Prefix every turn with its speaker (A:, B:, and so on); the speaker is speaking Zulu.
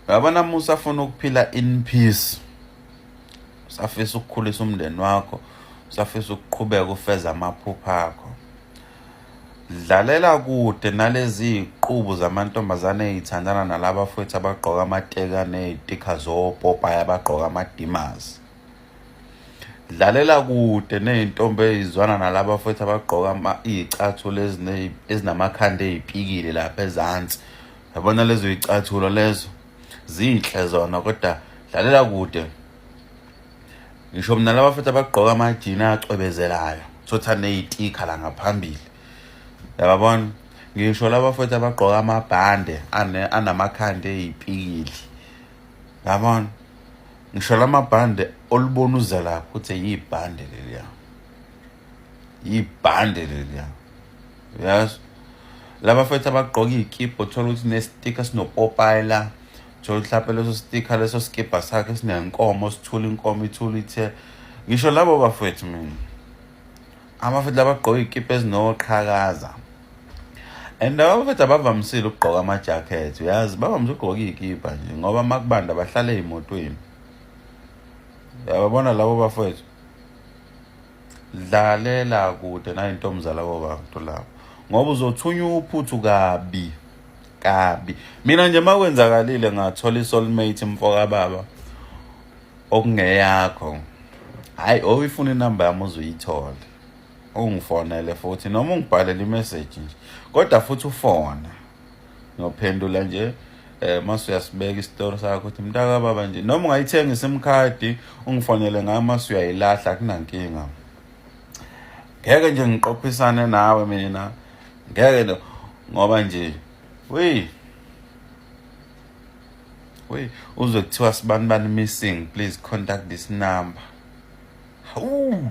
A: uyabona uma usafuna ukuphila in peace usafisa ukukhulisa umndeni wakho usafisa ukuqhubeka ufeza amaphupha akho dlalela kude nalezi iqubu zamantombazane eyithandana nalaba futhi abagqoka amateka nezitikha zopopaya abagqoka amadimazi dlalela kude nezintombi ezizwana nalaba futhi abagqoka izicathulo ezinamakhanda ezipikile lapha ezansi yabona lezo icathulo lezo zinhle zona kodwa dlalela kude ngisho mina laba futhi abagqoka amajini acwebezelayo sothi neyitikha la ngaphambili yababona ngisho laba futhi abagqoka amabhande anamakhanda eyipikili yabona ngisho lamabhande olubona uze lapho ukuthi yibhande leliya yibhande leliya yes laba fethu abagqoka iy'kibha uthola ukuthi nesitikha sinopopayi la thola uhlape leso sitikha leso sikibha sakhe sinenkomo sithula inkomo ithula ithe ngisho labo bafethu mina abafethu labagqoka iy'kibha ezinoqhakaza and laba bafethu abavamisile ukugqoka amajakhethi uyazi bavamise ukugqoka iy'kibha nje ngoba uma kubanda bahlale ey'motweni yababona labo bafethu dlalela kude nayintombuzala kobantu lapho ngoba uzothunywa uphuthu kabi kabi mina nje makwenzakalile ngathola isoulmate mfoka baba okungeyakho hayi oyifuna inamba yami uzuyithole ungifonele futhi noma ungibhalele imessage nje kodwa futhi ufona ngiyophendula nje eh mase uyasibeka isitori sakho ukuthi mntaka baba nje noma ungayithenga isim card ungifonele ngayo mase uyayilahla kunankinga ngeke nje ngiqophisane nawe mina ngeke no ngoba nje we we uzwe kuthiwa sibani bani missing please contact this number hawu